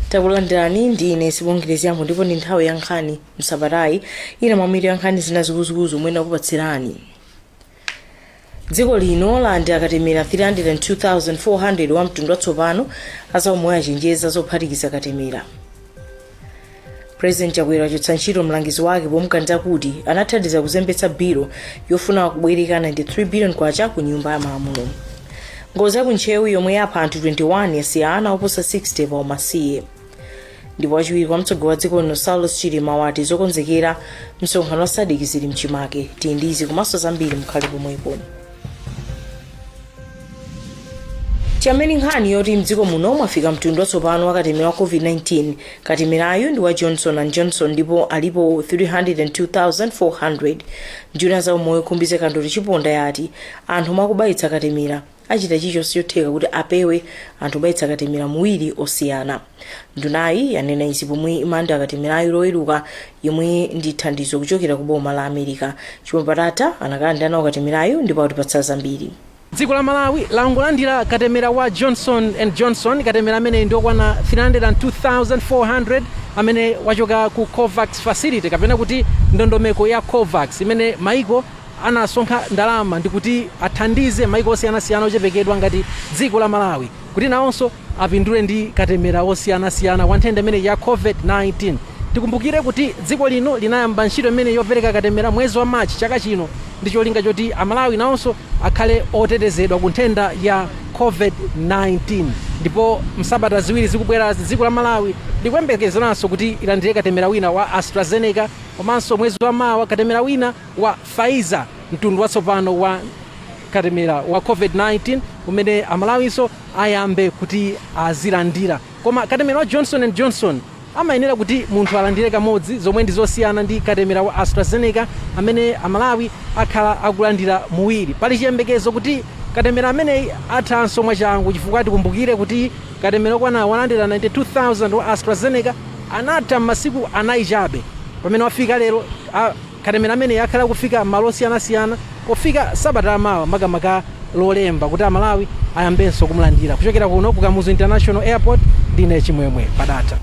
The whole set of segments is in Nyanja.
takulandirani ndi ine sibongile zyambo ndipo ndi nthawi ya nkhani msabatayi ina mwamitu ya nkhani zina zikuluzikulu zomwe ndakupatsirani dziko lino lalandira katemera 302400 wa mtundu watsopano azaumoyo achenjeza zophatikiza katemera president chakwera wachotsa ntchito mlangizi wake pomuganizira kuti anathandiza kuzembetsa bilo yofuna kubwereka 93 billion kwacha ku nyumba ya malamulo ngozi ya ku ntcheu yomwe yapha anthu 21 yasiya ana oposa 60 pa umasiye ndipo wachiwiri kwa mtsogoleri wa dziko lino saulos chilima wati zokonzekera msonkhano wa sadc zili mchimake tili ndi izi komanso zambiri mukhale pomwepo tiyambe ndi nkhani yoti mdziko muno mwafika mtundu watsopano wa katemera wa covid-19 katemerayu ndi wa johnson and johnson ndipo alipo 302400 nduna ya za umoyo khumbize kandodo chiponda yati anthu omwe akubayitsa katemera achita chilichonse chotheka kuti apewe anthu kubayitsa katemera awiri osiyana ndunayi yanena izi pomwe imalandira katemerayu loweruka yemwe ndi thandizo kuchokera ku boma la america chimwemwe padata anakalandira nawo katemerayu ndipo atipatsa zambiri dziko la malawi langolandira katemera wa johnson and johnson katemera ameneyu ndi okwana 302400 amene wachoka ku covax facility kapena kuti ndondomeko ya covax imene maiko anasonkha ndalama ndikuti athandize maiko osiyanasiyana ochepekedwa ngati dziko la malawi kuti nawonso apindule ndi katemera wosiyanasiyana wa nthenda imeneyi ya COVID-19. Tikumbukire kuti dziko lino linayamba ntchito imeneyi yopereka katemera mwezi wa March chaka chino ndi cholinga choti Amalawi nawonso akhale otetezedwa ku nthenda ya COVID-19 ndipo m'sabata ziwiri zikubwerazi, dziko la Malawi likuyembekezeranso kuti ilandire katemera wina wa AstraZeneca komanso mwezi wa mawa katemera wina wa Pfizer, mtundu watsopano wa katemera wa COVID-19 umene Amalawinso ayambe kuti azilandira. Koma katemera wa Johnson and Johnson amayenera kuti munthu alandire kamodzi zomwe ndi zosiyana ndi katemera wa AstraZeneca amene a Malawi akhala akulandira awiri. Pali chiyembekezo kuti katemera ameneyi athanso mwachangu chifukwa tikumbukire kuti katemera okwana 192,000 wa AstraZeneca anatha m'masiku anayi chabe pamene wafika lero Katemera ameneyi akhala akufika m'malo osiyanasiyana pofika sabata ya mawa makamaka lolemba kuti a Malawi ayambenso kumulandira. Kuchokera kuno ku Kamuzu International Airport ndine Chimwemwe Padata.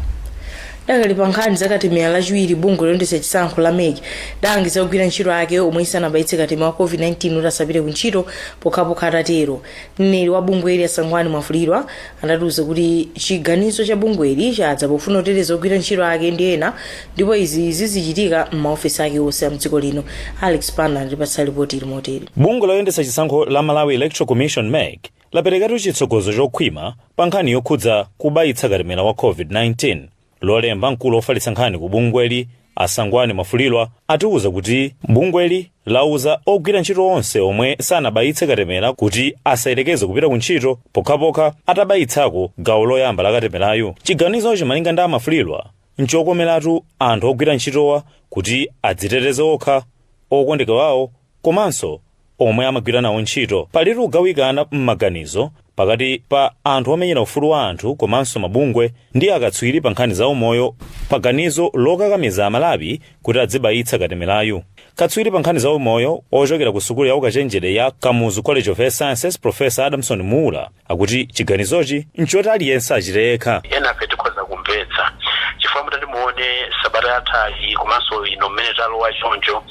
Tidakali pa nkhani za katemera lachiwiri bungwe loyendetsa chisankho la mec lidalangiza ogwira ntchito ake omwe sanabayitse katemera wa covid-19 kuti asapite ku ntchito pokhapokha atatero. Mneneri wa bungweli a Sangwani Mwafulirwa adatiuza kuti chiganizo cha bungweli chadza pofuna kuteteza ogwira ntchito ake ndi ena ndipo izi zizichitika m'maofesi ake onse a mdziko lino alex banda watipatsa lipoti ili motere bungwe loyendetsa chisankho la malawi electoral commission mec laperekatu chitsogozo chokhwima pa nkhani yokhudza kubayitsa katemera wa covid-19 lolemba mkulu wofalitsa nkhani ku bungweli asangwani mwafulirwa atiwuza kuti bungweli lauza ogwira ntchito onse omwe sanabayitse katemera kuti asayerekeze kupita ku ntchito pokhapokha atabayitsako gawo loyamba la katemerayu chiganizochi malinga ndi amwafulirwa N'chokomeratu anthu ogwira ntchitowa kuti adziteteze okha, okondeka awo komanso omwe amagwira nawo ntchito. Palitu kugawikana m'maganizo pakati pa anthu omenyera ufulu wa anthu komanso mabungwe ndi akatswiri pa nkhani za umoyo pa ganizo lokakamiza Amalawi kuti adzibayitsa katemerayu. Katswiri pa nkhani za umoyo ochokera ku sukulu ya ukachenjede ya Kamuzu College of Health Sciences Professor Adamson Muula, akuti chiganizochi nchoti aliyense achite ekha enafe tikhoza kumvetsa chifukwa mutati muone sabata yathayi komanso ino mmene talowa choncho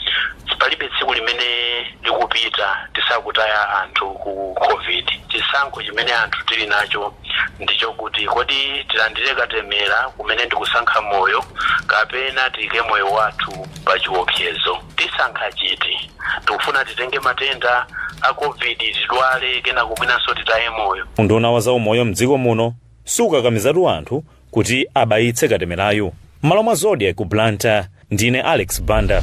palibe tsiku limene likupita tisakutaya anthu ku covid chisankho chimene anthu tili nacho ndichokuti kodi tilandire katemera kumene ndikusankha moyo kapena tiyike moyo wathu pa chiopsezo Tisankha chiti? Tikufuna titenge matenda a Covid, tidwale kenako mwinanso titaye moyo? Unduna wa zaumoyo m'dziko muno sukakamizatu anthu kuti abayitse katemerayu. M'malo mwa Zodiak ku Blantyre, ndine Alex Banda.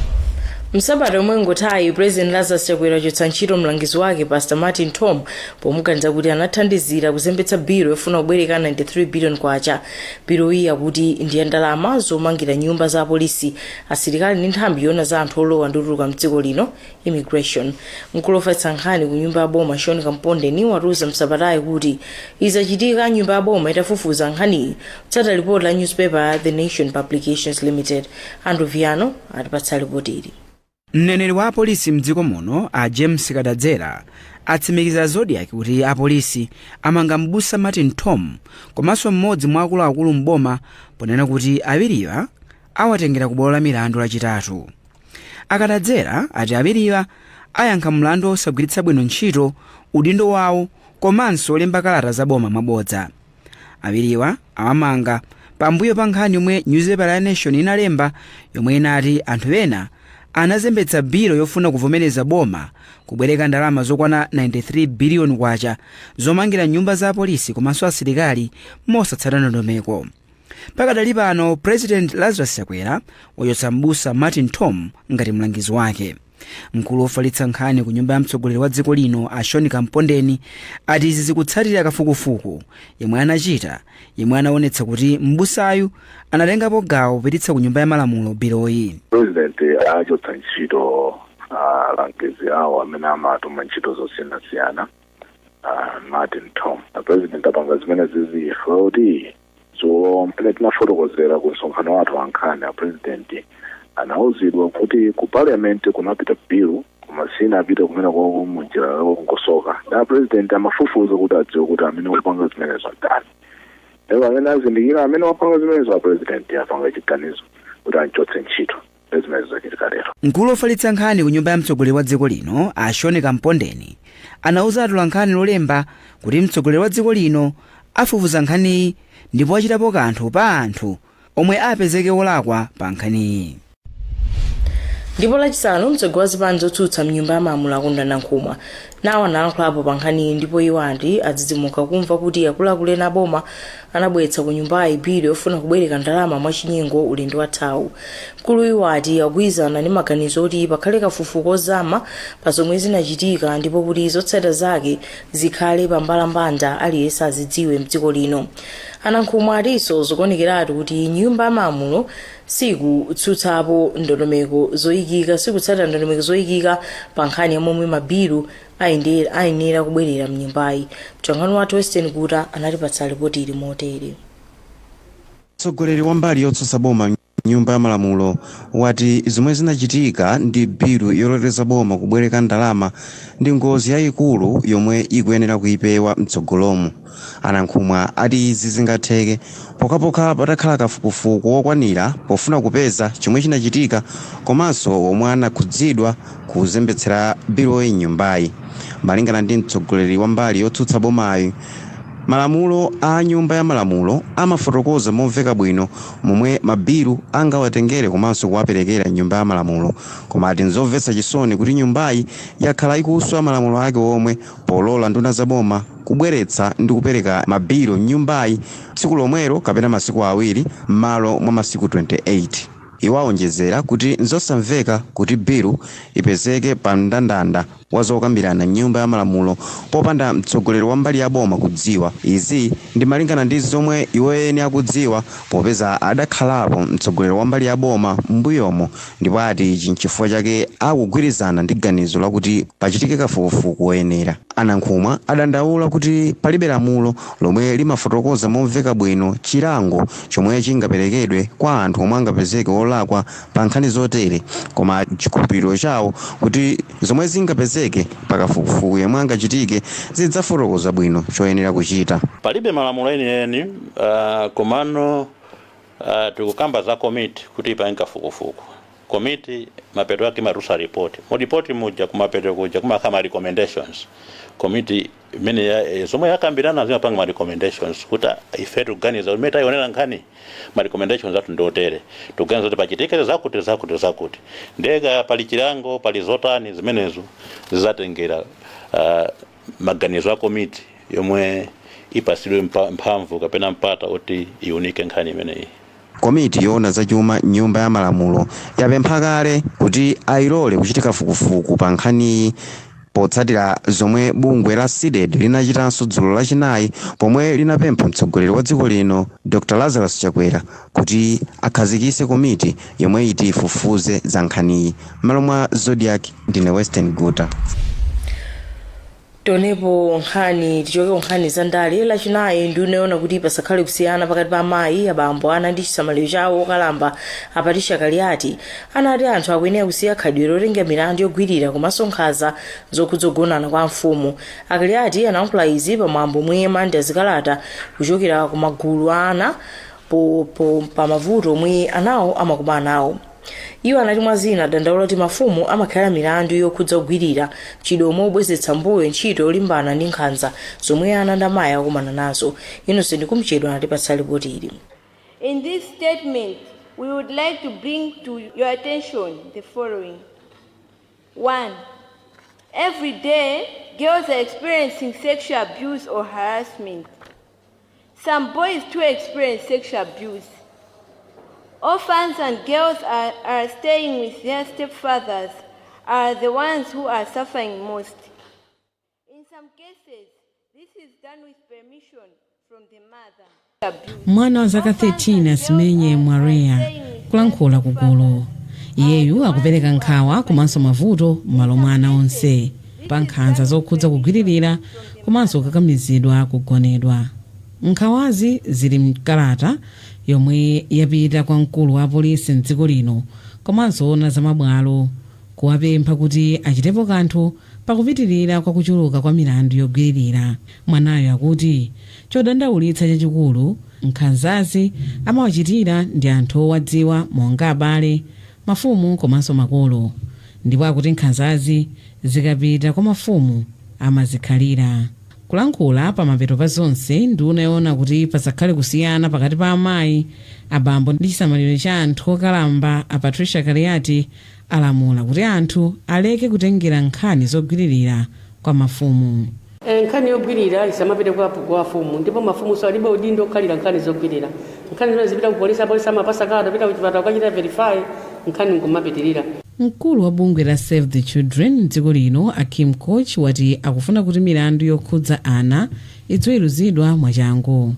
msabata yomwe yangothayi president lazarus chakwera wachotsa ntchito mlangizi wake pastor martin tom pomuganiza kuti anathandizira kuzembetsa biro yofuna kubwereka 93 billion kwacha biroyi akuti ndi ya ndalama zomangira nyumba za apolisi asilikali ndi nthambi yoona za anthu olowa ndi kutuluka mdziko lino immigration mkulu ofalitsa nkhani ku nyumba ya boma sean kampondeni watiuza msabatayi kuti izi zachitika nyumba ya boma itafufuza nkhaniyi kutsata lipoti la newspaper ya the nation publications limited andrew viano atipatsa lipoti ili mneneri wa apolisi mdziko muno a james kadadzera atsimikizira zodiak kuti apolisi amanga mbusa martin tom komanso mmodzi mwa akuluakulu mboma ponena kuti awiriwa awatengera ku bwalo la milandu lachitatu akadadzera ati awiriwa ayankha mlandu wosagwiritsa bwino ntchito udindo wawo komanso wolemba kalata za boma mwabodza awiriwa awamanga pambuyo pa nkhani yomwe nyuzipepa ya nation inalemba yomwe inati anthu ena anazembetsa bilo yofuna kuvomereza boma kubwereka ndalama zokwana 93 biliyoni kwacha zomangira nyumba za apolisi komanso asilikali mosatsata ndondomeko pakadali pano president lazarus chakwera wachotsa m'busa martin tom ngati mlangizi wake mkulu wofalitsa nkhani ku nyumba ya mtsogoleri wa dziko lino a sean kampondeni ati izi zikutsatira kafukufuku yemwe anachita yemwe anaonetsa kuti m'busayu anatengapo gawo popititsa ku nyumba ya malamulo biloyi president achotsa ntchito alangizi awo amene amatuma ntchito zosiyanasiyana Ah, martin tom apresident apanga zimenezi chifukwa choti dzulo m'mene tinafotokozera ku msonkhano wathu wankhani a president anauzidwa kuti ku parliament kunapita bill koma sinapite kumeneko munjira yolongosoka nde president amafufuza kuti adziwe kuti amene wapanga zimenezo ndani ndipo m'mene azindikira amene wapanga zimenezo a president apanga chiganizo kuti anchotse ntchito ndi zimene zachitika lero Mkulu ofalitsa nkhani ku nyumba ya mtsogoleri wa dziko lino a Sean Kampondeni anauza atolankhani lolemba kuti mtsogoleri wa dziko lino afufuza nkhaniyi ndipo achitapo kanthu pa anthu omwe apezeke olakwa pa nkhaniyi. ndipo lachisanu mtsogoleri wa zipani zotsutsa mnyumba ya malamulo a Kondwani Nankhumwa nawo analankhulapo pa nkhaniyi ndipo iwo ati adzidzimuka kumva kuti akuluakulu ena aboma anabweretsa ku nyumbayi bilu yofuna kubwereka ndalama mwachinyengo ulendo wathawu mkulu iwo ati akugwirizana ndi maganizo oti pakhale kafukufuku ozama pa zomwe zinachitika ndipo kuti zotsatira zake zikhale pa mbalambanda aliyense azidziwe mdziko lino a nankhumwa atinso zikuonekeratu kuti nyumba ya malamulo sikutsutsapo ndondomeko zoyikika, sikutsatira ndondomeko zoyikika pa nkhani ya momwe mabilu ayende- ayenera kubwerera mnyumbayi. Mtolankhani wathu Wyson Guta anatipatsa lipoti ili motere. Mtsogoleri wa mbali yotsutsa boma m'Nyumba ya Malamulo wati zomwe zinachitika ndi bilu yololeza boma kubwereka ndalama ndi ngozi yayikulu yomwe ikuyenera kuyipewa mtsogolomu. A Nankhumwa ati izi zingatheke pokhapokha patakhala kafukufuku wokwanira pofuna kupeza chomwe chinachitika komanso omwe anakhudzidwa kuzembetsera biloyi m'nyumbayi. Malingana ndi mtsogoleri wa mbali yotsutsa bomayi, malamulo a nyumba ya malamulo amafotokoza momveka bwino momwe ma bilu angawatengere komanso kuwaperekera m'nyumba ya malamulo koma ati nzomvetsa chisoni kuti nyumbayi yakhala ikuswa malamulo ake omwe polola nduna za boma kubweretsa ndi kupereka mabilu m'nyumbayi tsiku lomwelo kapena masiku awiri m'malo mwa masiku 28. Iwo awonjezera kuti n'zosamveka kuti bilu ipezeke pa mndandanda wa zokambirana m'Nyumba ya Malamulo popanda mtsogoleri wa mbali ya boma kudziwa. Izi ndi malingana ndi zomwe iwo eni akudziwa popeza adakhalapo mtsogoleri wa mbali ya boma m'mbuyomo ndipo ati ichi n'chifukwa chake akugwirizana ndi ganizo lakuti pachitike kafukufuku woyenera. A Nankhumwa adandaula kuti palibe lamulo lomwe limafotokoza momveka bwino chilango chomwe chingaperekedwe kwa anthu omwe angapezeke wolakwa pa nkhani zotere koma ati n'chikhulupiriro chawo kuti zomwe zingapezeke pa kafukufuku yomwe angachitike zidzafotokoza bwino choyenera kuchita. Palibe malamulo enieni, komano Uh, tikukamba za komiti kuti ipange kafukufuku. Komiti mapeto ake imatulutsa report. Mu report muja kumapeto kuja kumakhala ma recommendations. Komiti imene ya- eh, zomwe yakambirana zimapanga ma recommendations kuti ah, ife tikuganiza kuti mmene tayionera nkhani ma recommendations athu ndi otere. Tikuganiza kuti pachitike zakuti zakuti zakuti. Nde kaya pali chilango, pali zotani zimenezo zizatengera uh, maganizo a komiti yomwe ipatsidwe mpa, mphamvu kapena mpata oti iunike nkhani imeneyi. Komiti yoona za chuma m'Nyumba ya Malamulo yapempha kale kuti ailole kuchita kafukufuku pa nkhaniyi potsatira zomwe bungwe la CDEDI linachitanso dzulo Lachinayi pomwe linapempha mtsogoleri wa dziko lino Dr Lazarus Chakwera kuti akhazikitse komiti yomwe iti ifufuze za nkhaniyi m'malo mwa zodiac ndine western guta tonepo nkhani tichoke nkhani za ndale lachinayi ndi nduna yoona kuti pasakhale kusiyana pakati pa amayi abambo ana ndi chisamaliro cha okalamba a Patricia Kaliati anati anthu akuyenera kusiya khalidwe lotengera milandu yogwirira komanso nkhanza zokhudza kugonana kwa mfumu a Kaliati anayankhula izi pamwambo omwe amalandira zikalata kuchokera ku magulu a ana po- po- pa mavuto omwe anawo amakumana nawo iwo anati mwa zina adandaula kuti mafumu amakhalira milandu yokhudza kugwirira mchitidwe omwe ukubwezeretsa mbuyo ntchito yolimbana ndi nkhanza zomwe ana ndi amayi akumana nazo Innocent Kumchedwa anatipatsa lipoti ili In this statement, we would like to bring to your attention the following. One, every day, girls are experiencing sexual abuse or harassment. Some boys too experience sexual abuse. Orphans and girls are, are staying with their stepfathers are the ones who are suffering most. In some cases, this is done with permission from the mother. Abuse. mwana wa zaka 13 asimenye Mwareya kulankhula kugulu iyeyu akupereka nkhawa komanso mavuto m'malo mwa ana onse pa nkhanza zokhudza kugwiririra komanso kukakamizidwa kugonedwa. Nkhawazi zili m'kalata yomwe yapita kwa mkulu wa apolisi m'dziko lino komanso oona za mabwalo kuwapempha kuti achitepo kanthu pa kupitirira kwa kuchuluka kwa milandu yogwiririra. Anawa akuti chodandaulitsa chachikulu nkhanzazi amawachitira ndi anthu owadziwa monga abale, mafumu komanso makolo. Ndipo akuti nkhanzazi zikapita kwa mafumu amazikhalira. Kulankhula pamapeto pa zonse, nduna yoona kuti pasakhale kusiyana pakati pa amayi, abambo ndi chisamaliro cha anthu okalamba a Patricia Kaliati alamula kuti anthu aleke kutengera nkhani zogwiririra kwa mafumu. Eh, nkhani yogwirira isamapite kwa afumu afumu ndipo mafumunso alibe udindo okhalira nkhani zogwirira nkhani zimenezi zipita ku polisi apolisi amapasa kalata pita ku chipatala kukachita verify nkhani nkumapitirira Mkulu wa bungwe la Save the Children mdziko lino a Kim Koch wati akufuna kuti milandu yokhudza ana idziweruzidwa mwachangu.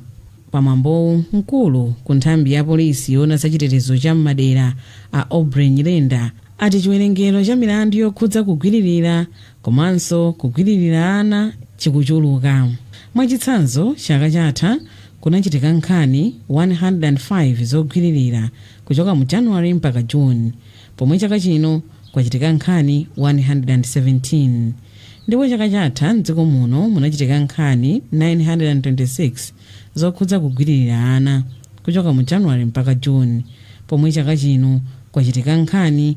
Pamwambowu mkulu ku nthambi ya polisi yoona za chitetezo cha m'madera a Aubrey Nyirenda ati chiwerengero cha milandu yokhudza kugwiririra komanso kugwiririra ana chikuchuluka. Mwachitsanzo, chaka chatha kunachitika nkhani 105 zogwiririra kuchoka mu January mpaka June, pomwe chaka chino kwachitika nkhani 117. Ndipo chaka chatha m'dziko muno munachitika nkhani 926 zokhudza kugwiririra ana kuchoka mu January mpaka June, pomwe chaka chino kwachitika nkhani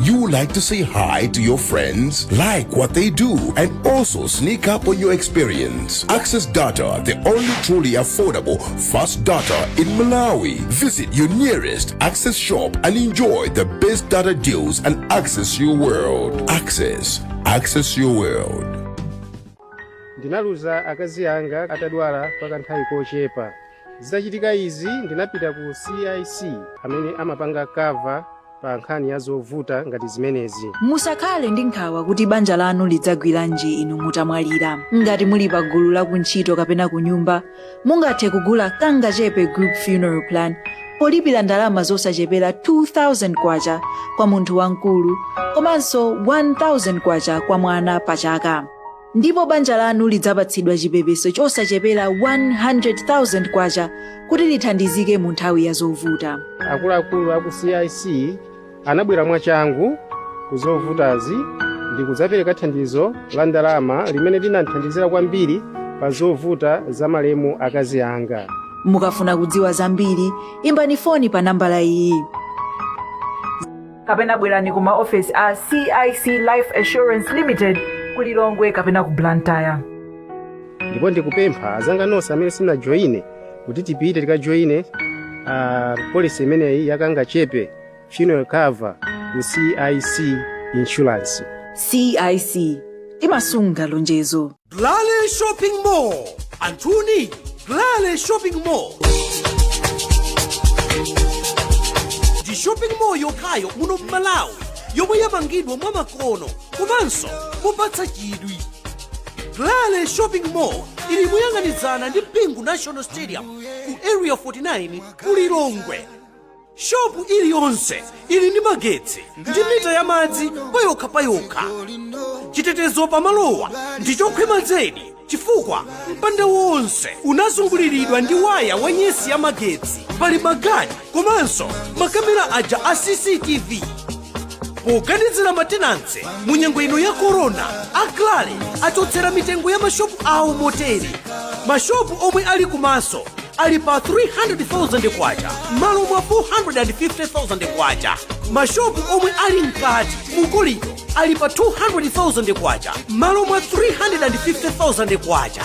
You would like to say hi to your friends, like what they do, and also sneak up on your experience. Access Data, the only truly affordable fast data in Malawi. Visit your nearest Access shop and enjoy the best data deals and access your world. Access, access your world. ndinaluza akazi anga atadwala kwa kanthawi kochepa zitachitika izi ndinapita ku cic amene amapanga cover pa nkhani ya zovuta ngati zimenezi musakhale ndi nkhawa kuti banja lanu lidzagwiranji inu mutamwalira ngati muli pa gulu la kuntchito kapena ku nyumba mungathe kugula kangachepe group funeral plan polipira ndalama zosachepera 2000 kwacha kwa munthu wamkulu komanso 1000 kwacha kwa mwana pa chaka ndipo banja lanu lidzapatsidwa chipepeso chosachepera 100,000 kwacha kuti lithandizike mu nthawi ya zovuta akuluakulu aku cic anabwera mwachangu ku zovutazi ndi kudzapereka thandizo la ndalama limene linandithandizira kwambiri pa zovuta za malemu akazi anga mukafuna kudziwa zambiri imbani foni pa nambala iyi kapena bwerani ku maofesi a cic life assurance limited ku lilongwe kapena ku blantyre ndipo ndikupempha azanga nonse amene simunajoyine kuti tipite tikajoyine uh, policy imeneyi ya kangachepe funeral cover ku cic insurance cic timasunga lonjezo Glale Shopping Mall. Anthuni, Glale Shopping Mall. Ndi shopping mall yokhayo muno m'Malawi yomwe yamangidwa mwa makono komanso mopatsa chidwi. Glale Shopping Mall ili moyang'anizana ndi Bingu National Stadium ku Area 49 ku Lilongwe. Shopu iliyonse ili ndi magetsi ndi mita ya madzi payokha payokha. Chitetezo pamalowa ndi chokhwima zedi chifukwa mpanda wonse unazunguliridwa ndi waya wa nyesi ya magetsi. Pali magadi komanso makamera aja a CCTV poganizira ma tenants mu nyengo ino ya korona a Glale achotsera mitengo ya mashopu awo motere mashopu omwe ali kumaso ali pa 300,000 kwacha m'malo mwa 450,000 kwacha mashopu omwe ali mkati mukolido ali pa 200,000 kwacha m'malo mwa 350,000 kwacha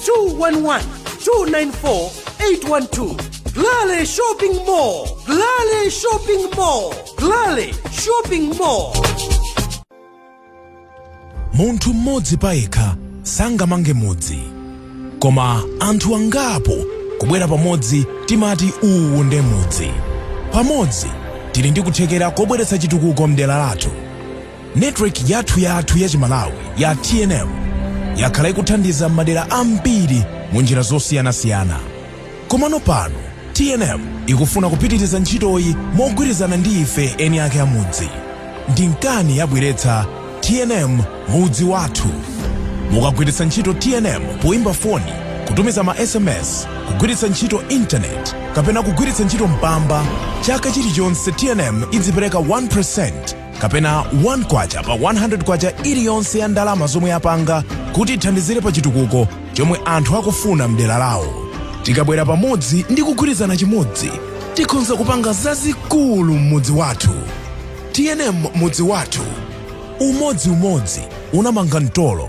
211 294 812 Glale Shopping Mall Glale Shopping Mall Glale Shopping Mall munthu mmodzi payekha sangamange mudzi koma anthu angapo kubwera pamodzi timati uwu nde mudzi pamodzi tili ndi kuthekera kobweretsa chitukuko mdera lathu Network yathu yathu ya Chimalawi ya TNM yakhala ikuthandiza madera ambiri mu njira zosiyanasiyana. Komano pano TNM ikufuna kupitiriza ntchitoyi mogwirizana ndi ife eni ake a mudzi. N'dye nkhani yabweretsa TNM mudzi wathu. Mukagwiritsa ntchito TNM poimba foni, kutumiza ma SMS, kugwiritsa ntchito intaneti kapena kugwiritsa ntchito mpamba, chaka chilichonse TNM idzipereka 1% kapena 1 kwacha pa 100 kwacha iliyonse ya ndalama zomwe yapanga kuti ithandizire pa chitukuko chomwe anthu akufuna mdera lawo tikabwera pamodzi ndi kugwirizana chimodzi tikhonza kupanga zazikulu m'mudzi wathu tnm mudzi wathu umodzi umodzi unamanga mtolo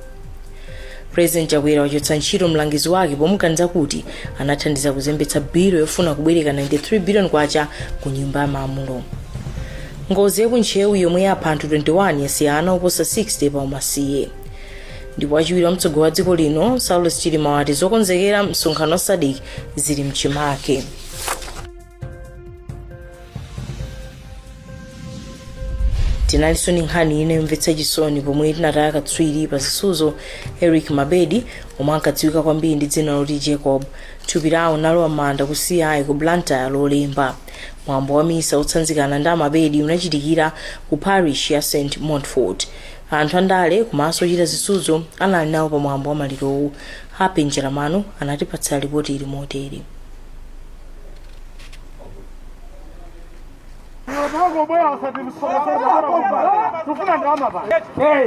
president chakwera wachotsa ntchito mlangizi wake pomuganiza kuti anathandiza kuzembetsa bilo yofuna kubwereka 93 billion kwacha ku nyumba ya malamulo ngozi ya ku Ntcheu yomwe yapha anthu 21 yasiya ana oposa 60 pa umasiye ndipo wachiwiri kwa mtsogoleri wa dziko lino saulos chilima wati zokonzekera msonkhano wa sadc zili mchimake tinalinso ndi nkhani ina yomvetsa chisoni pomwe tinataya katswiri pa zisuzo eric mabedi omwe ankadziwika kwambiri ndi dzina loti jacob thupi lawo linalowa m'manda ku ci ku blantyre lolemba mwambo wa misa otsanzikana ndi a mabedi unachitikira ku parish ya st montfort anthu andale komanso ochita zisuzo anali nawo pa mwambo wa malirowu happy njolomole anatipatsa lipoti ili motere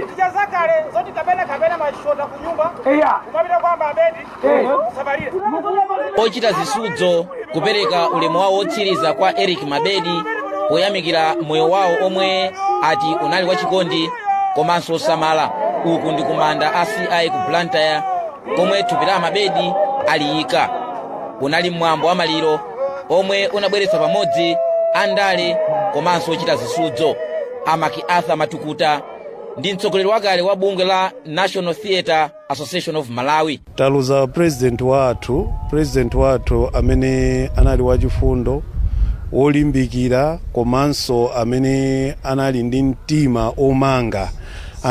tichazakale zoti kapena kapena machota kunyumba kumapita kwa a mabedi kusabalira ochita zisudzo kupereka ulemu wawo wotsiriza kwa eric mabedi poyamikira moyo wawo omwe ati unali wachikondi komanso osamala uku ndi kumanda a ci ku blantyre komwe thupi la mabedi aliyika unali mwambo wa maliro omwe unabweretsa pamodzi andale komanso ochita zisudzo a macarthur matukuta ndi mtsogoleri wakale wa bungwe la national theatre association of malawi taluza president wathu president wathu amene anali wachifundo wolimbikira komanso amene anali ndi mtima omanga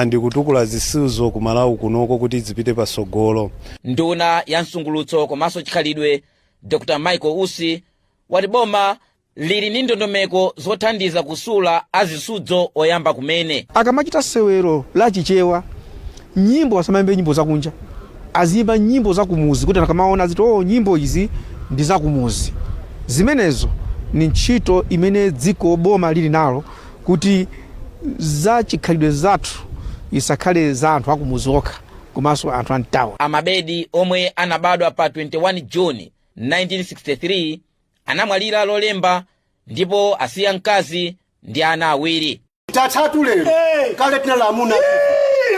ndi kutukula zisudzo ku malawi kunoko kuti zipite patsogolo Nduna ya msangulutso komanso chikhalidwe Dr Michael Usi wati boma lili ndi ndondomeko zothandiza kusula azisudzo oyamba kumene. akamachita sewero la chichewa nyimbo asamayimbe nyimbo zakunja aziyimba nyimbo zakumuzi kuti anthu akamaona aziti o nyimbo izi ndi zakumuzi zimenezo ni ntchito imene dziko boma lili nalo kuti za chikhalidwe zathu isakhale za anthu akumuzi okha komanso anthu a m'tauni. A Mabedi omwe anabadwa pa 21 June 1963 anamwalira Lolemba ndipo asiya mkazi ndi ana awiri. Tatatu lero kale tinali amuna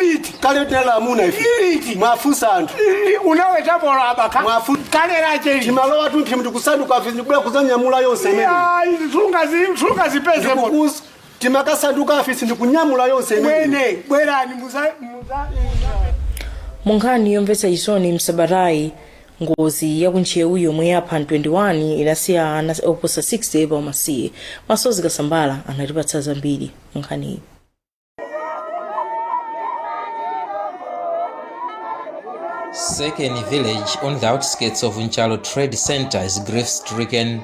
Iliti. kale tinali amuna ife Iliti. mwafunsa anthu Ili- Unawetapola abaka. Mwafu- Kale lache ili. timalowa tumphi mtikusanduka afe ndikubwera kuzanyamula yonse imene Ya, izi sunga zi- sunga zipeze moto. Ndikukuza- timakasanduka afisi ndikunyamula yonse imene mwene bwerani muza muza mu nkhani yomvetsa chisoni msabatayi ngozi ya kuntcheu yomwe yapha 21 inasiya ana oposa 60 pa umasiye masozi kasambala anatipatsa zambiri mu nkhaniyi Sekeni village on the outskirts of Nchalo Trading Center is grief stricken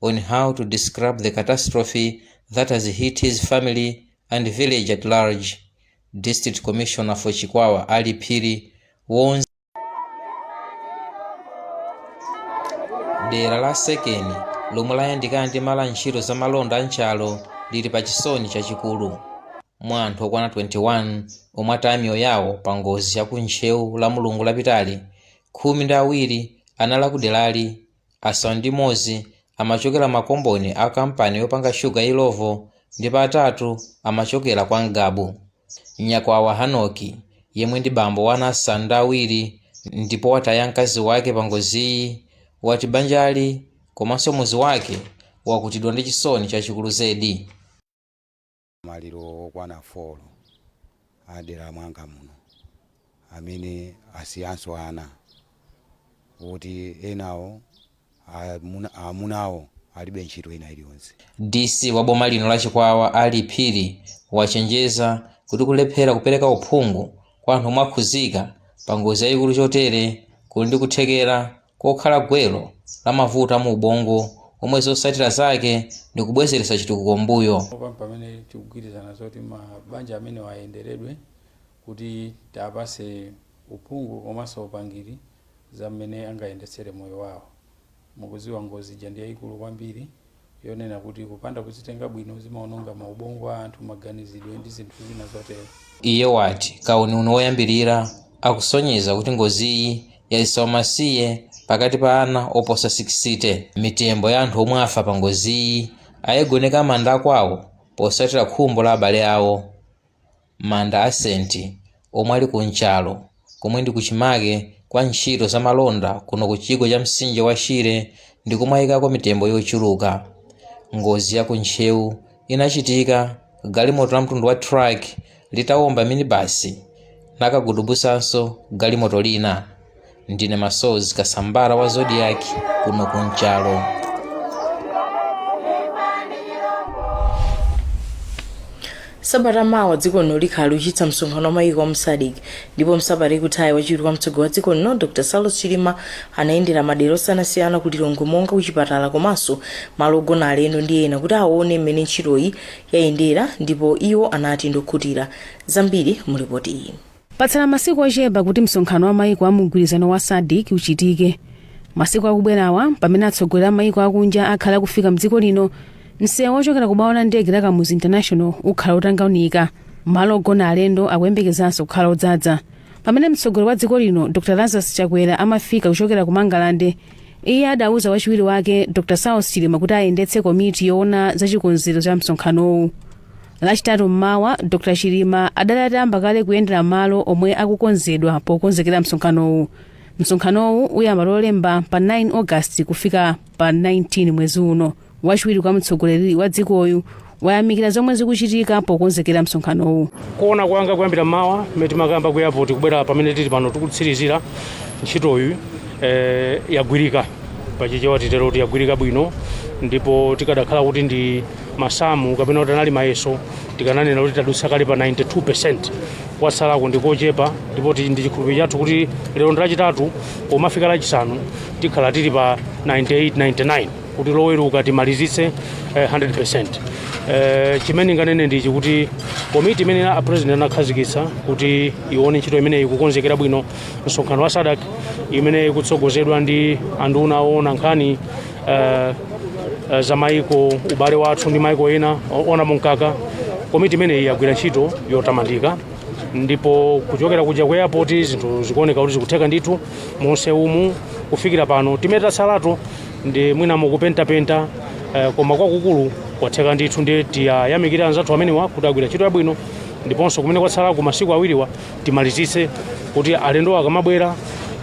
on how to describe the catastrophe that has hit his family and village at large. District Commissioner for Chikwawa, Ali Phiri, warns dera la Sekeni lomwe layandikana ndi malo a ntchito za malonda a Nchalo lili pa chisoni chachikulu mwa anthu okwana 21 omwe ataya miyoyo yawo pa ngozi ya ku Ntcheu lamulungu lapitali khumi ndi awiri anali a kuderali asanu ndi m'modzi amachokera makomboni a kampani yopanga shuga ya Illovo ndipo atatu amachokera kwa Ngabu. Nyakwawa Hanoki, yemwe ndi bambo wa ana asanu ndi awiri ndipo wataya mkazi wake pangoziyi, wati banjali komanso mudzi wake wakutidwa ndi chisoni chachikulu zedi. Maliro okwana folo a dera mwanga muno amene asiyanso ana oti enawo amunawo alibe ntchito ina iliyonse. DC wa boma lino la Chikwawa Ali Phiri wachenjeza kuti kulephera kupereka uphungu kwa anthu omwe akhuzika pa ngozi yayikulu chotere kuli ndi kuthekera kokhala gwero la mavuto a mu ubongo omwe zotsatira zake ndi kubwezeretsa chitukuko m'mbuyo. Pano pamene tikugwirizana zoti mabanja amenewa ayenderedwe kuti tiwapatse uphungu komanso upangiri za mmene angayendetsere moyo wawo. Mukudziwa ngozi ija ndi yaikulu kwambiri. yonena kuti kupanda kuzitenga bwino zimaononga maubongo a anthu, maganizidwe ndi zinthu zina zotero. Iye wati kauniuni woyambirira akusonyeza kuti ngoziyi yaika umasiye pakati pa ana oposa 60. Mitembo ya anthu omwe afa pa ngoziyi ayigoneka manda akwawo posatira khumbo la abale awo. Manda a Senti, omwe ali ku Nchalo, komwe ndi kuchimake kwa ntchito za malonda kuno ku chigwa cha mtsinje wa Shire, ndi komwe ayikako mitembo yochuluka. Ngozi ya ku Ntcheu inachitika galimoto la mtundu wa truck litawomba minibasi nakagudubusanso galimoto lina. ndine Masozi Kasambala wa Zodiak kuno ku Nchalo sabata mawa dziko lino likhala likuchititsa msonkhano wa mayiko a mu SADC ndipo msabata ikuthayi wachiwiri kwa mtsogoleri wa dziko lino Dr Saulos Chilima anayendera madera osiyanasiyana ku Lilongwe monga kuchipatala komanso malo ogona alendo ndi ena kuti aone mmene ntchitoyi yayendera ndipo iwo anati ndi okhutira zambiri mu lipoti iyi Patsala masiku ochepa kuti msonkhano wa maiko a mumgwirizano wa Sadc uchitike. Masiku akubwerawa, mpamene atsogoleri a maiko akunja akhale akufika mdziko lino, msewu ochokera ku bwalo la ndege la Kamuzu International ukhala otanganika. Malo ogona alendo akuyembekezanso kukhala odzadza. Pamene mtsogoleri wa dziko lino, Dr Lazarus Chakwera amafika kuchokera ku Mangalande, iye adauza wachiwiri wake, Dr Saulos Chilima kuti ayendetse komiti yoona za chikonzero cha msonkhanowu. lachitatu mmawa dr chilima adali atayamba kale kuyendera malo omwe akukonzedwa pokonzekera msonkhanowu msonkhanowu uyamba lolemba pa 9 august kufika pa 19 mwezi uno wachiwiri kwa mtsogoleri wa dzikoyu wayamikira zomwe zikuchitika pokonzekera msonkhanowu kuona kwanga kuyambira mmawa mmene timakayamba ku airport kubwera pamene tili pano tikutsirizira ntchitoyi eh, yagwirika pachichewa titero kuti yagwirika bwino ndipo tikadakhala kuti ndi masamu kapena kuti anali mayeso tikananena kuti tadutsa kale pa 92 kwatsalako ndi kochepa ndipo ndi chikhulupiriro chathu kuti lero ndi lachitatu pomafika lachisanu tikhala tili pa 98 99 kuti loweruka timalizitse eh, 100 eh, chimene ndinganene ndichi kuti komiti imene a president anakhazikitsa kuti ione ntchito imeneyi kukonzekera bwino msonkhano wa sadc imeneyi kutsogozedwa ndi anduna oona nkhani uh, uh, za maiko ubale wathu ndi maiko ena ona mkaka komiti imeneyi yagwira ntchito yotamandika ndipo kuchokera kuja ku airport zinthu zikuoneka kuti zikutheka ndithu mu mseumu kufikira pano zimene zatsalazo ndi mwina mukupentapenta uh, koma kwakukulu kwatheka ndithu ndi tiwayamikira anzathu amenewa kuti agwira ntchito yabwino ndiponso kumene kwatsalaku masiku awiriwa timalizitse kuti alendo akamabwera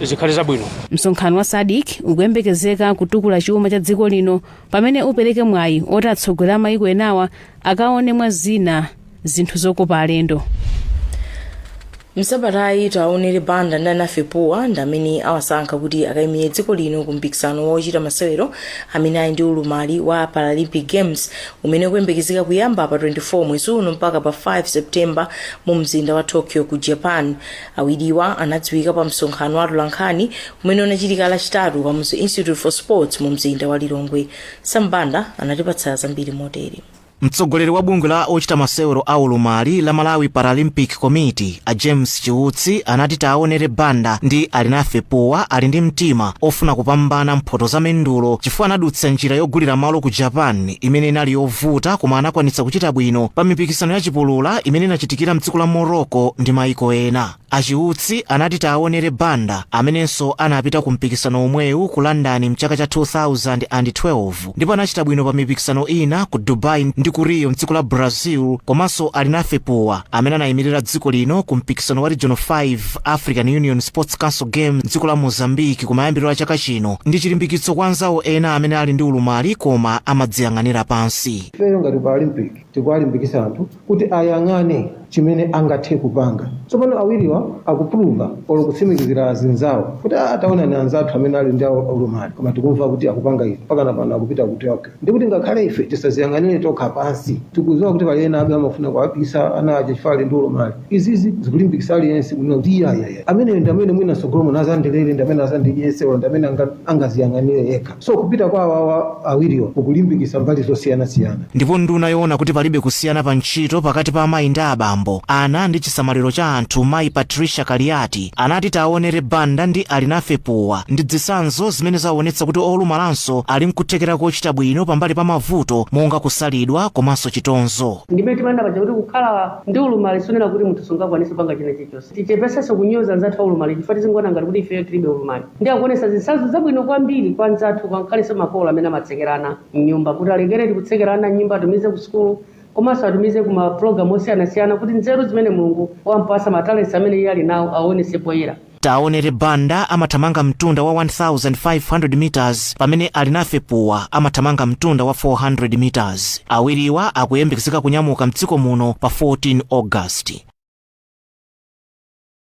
zikhale zabwino msonkhano wa sadc ukuyembekezeka kutukula chuma cha dziko lino pamene upereke mwayi oti atsogoleri a mayiko enawa akaone mwa zina zinthu zokopa alendo msabatayi taonere banda ndi alinafe puwa ndi amene awasankha kuti akayimire dziko lino ku mpikisano wa ochita masewero amene ali ndi ulumali wa paralympic games umene ukuyembekezeka kuyamba pa 24 mwezi uno mpaka pa 5 septemba mu mzinda wa tokyo ku japan awiriwa anadziwika pa msonkhano wa atolankhani umene unachitika lachitatu pa kamuzu institute for sports mu mzinda wa lilongwe sam banda anatipatsa zambiri motere mtsogoleri wa bungwe la ochita masewero a ulumali la malawi paralympic committee a james Chiutsi anati Taonere Banda ndi Alinafe Puwa ali ndi mtima ofuna kupambana mphoto za mendulo chifukwa anadutsa njira yogulira malo ku Japan imene inali yovuta koma anakwanitsa kuchita bwino pa mipikisano ya chipulula imene inachitikira mdziko la Morocco ndi maiko ena. A Chiutsi anati Taonere Banda amenenso anapita ku mpikisano omwewu ku London mchaka cha 2012 ndipo anachita bwino pa mipikisano ina ku dubai ndi ku rio mdziko la brazil komanso alinafe puwa amene anayimirira dziko lino ku mpikisano wa regional 5 african union sports council games mdziko la mozambique kumayambiriro a chaka chino ndi chilimbikitso kwa anzawo ena amene ali ndi ulumali koma amadziyang'anira pansi ifeyo ngati paralympic tikuwalimbikisa anthu kuti ayang'ane chimene angathe kupanga. Tsopano awiriwa akupuluva olo kutsimikizira azinzawo kuti a taonani anzathu amene ali ndi ulumali koma tikumva kuti akupanga izi mpakana pano akupita ku Tokyo. Ndi kuti ngakhale ife tisaziyang'anire tokha pansi. Tikudziwa kuti pali enabe amafuna kuwabisa ana aja chifukwa ali ndi ulumali. Izizi zikulimbikitsa aliyense kunena kuti iyayaya ameneyo ndi amene mwina mtsogolo muno azandilere ndi amene azandidyetse olo ndi amene anga- angaziyang'anire yekha. So kupita kwa awawa awiriwa kukulimbikisa mbali zosiyana siyana. Ndipo nduna yoona kuti palibe kusiyana pa ntchito pakati pa amayi ndi abambo, ana ndi chisamaliro cha anthu mayi Patricia Kaliati anati Taonere Banda ndi Alinafe Puwa ndi zitsanzo zimene zaonetsa kuti olumalanso ali nkuthekera kochita bwino pambali pa mavuto monga kusalidwa komanso chitonzo. Ndimene timanena paja kuti kukhala ndi ulumali sikunena kuti munthu sungakwanise kupanga china chilichonse. Tichepesenso kunyoza anzathu aulumali chifukwa tizingoona ngati kuti ifeyo tilibe ulumali. ndi akuonetsa zitsanzo zabwino kwambiri kwa anzathu ngakhalenso makolo amene amatsekera ana m'nyumba kuti alekeredi kutsekera ana m'nyumba atumize ku sukulu komanso atumize ku mapulogalamu osiyanasiyana kuti nzeru zimene mulungu wampasa matalenti amene iye ali nawo aonetse poyera Taonere Banda amathamanga mtunda wa 1500 meters pamene Alinafe Puwa amathamanga mtunda wa 400 meters. Awiriwa akuyembekezeka kunyamuka mdziko muno pa 14 August.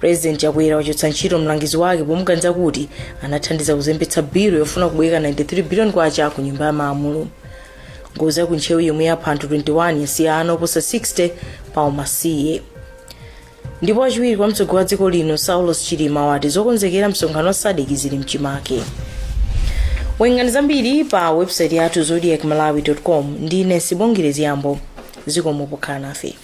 purezidenti chakwera wachotsa ntchito mlangizi wake pomuganiza kuti anathandiza kuzembetsa bilu yofuna kubwereka 93 billion kwacha ku nyumba ya malamulo ngozi yaku ntcheu yomwe yapha anthu 21 yasiya ana oposa 60 pa umasiye ndipo wachiwiri kwa mtsogoleri wa dziko lino saulos chilima wati zokonzekera msonkhano wa sadc zili mchimake werengani zambiri pa website yathu zodiac malawi com ndine sibongire ziyambo zikomo pokhala nafe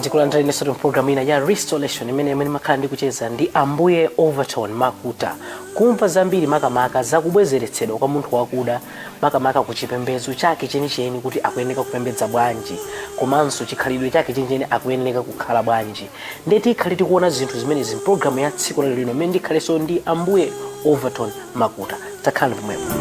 ndikulandira inenso mu programu ina ya restoration imene imene ndimakhala ndi kucheza ndi ambuye overton makuta kumva zambiri makamaka zakubwezeretsedwa kwa munthu wakuda makamaka ku chipembedzo chake chenicheni kuti akuyeneka kupembedza bwanji komanso chikhalidwe chake chenicheni akuyeneka kukhala bwanji ndiye tikhale tikuona zinthu zimenezi mpulogalamu ya tsiku lero lino imene ndikhalenso ndi ambuye overton makuta takhalani pomwepo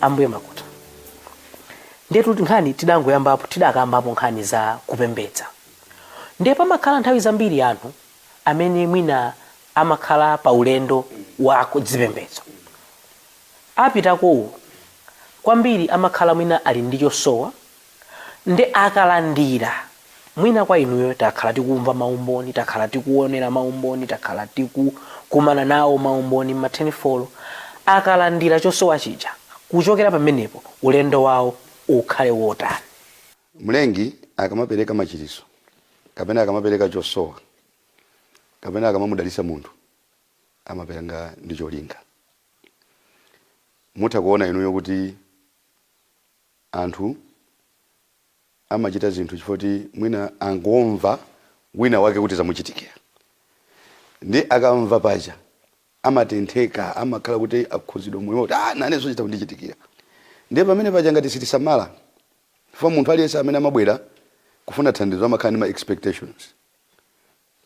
ambuye makuta ndiyetu nkhani tidangoyambapo tidakambapo nkhani za kupembedza ndiye pamakhala nthawi zambiri anthu amene mwina amakhala pa ulendo wa kuzipembedzo opitakowo kwambiri amakhala mwina ali ndi chosowa Nde akalandira, mwina kwa inuyo takhala tikumva maumboni, takhala tikuonera maumboni, takhala tikukumana nawo maumboni m'ma tenifolo. Akalandira chosowa chija, kuchokera pamenepo ulendo wawo ukhale wotani? Mlengi akamapereka machiritso, kapena akamapereka chosowa, kapena akamamudalitsa munthu, amapereka ndi cholinga. Mutha kuona inuyo kuti Anthu amachita zinthu chifukwa choti mwina angomva wina wake kuti zamuchitikira. Ndiye akamva paja amatentheka, amakhala kuti akhudzidwa moyo kuti nanenso chitha kundichitikira. Ndiye pamene paja ngati sitisamala, chifukwa munthu aliyense amene amabwera kufuna thandizo amakhala ndi ma expectations.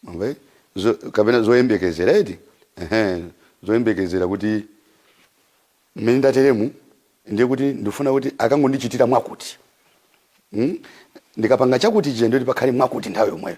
Mwamva? Kapena zoyembekezera eti? Ehe, zoyembekezera kuti mmene ndateremu ndiye kuti ndifuna kuti akangondichitira mwakuti. Hmm? Ndikapanga chakuti chija ndiye kuti pakhale mwakuti nthawi yomweyo.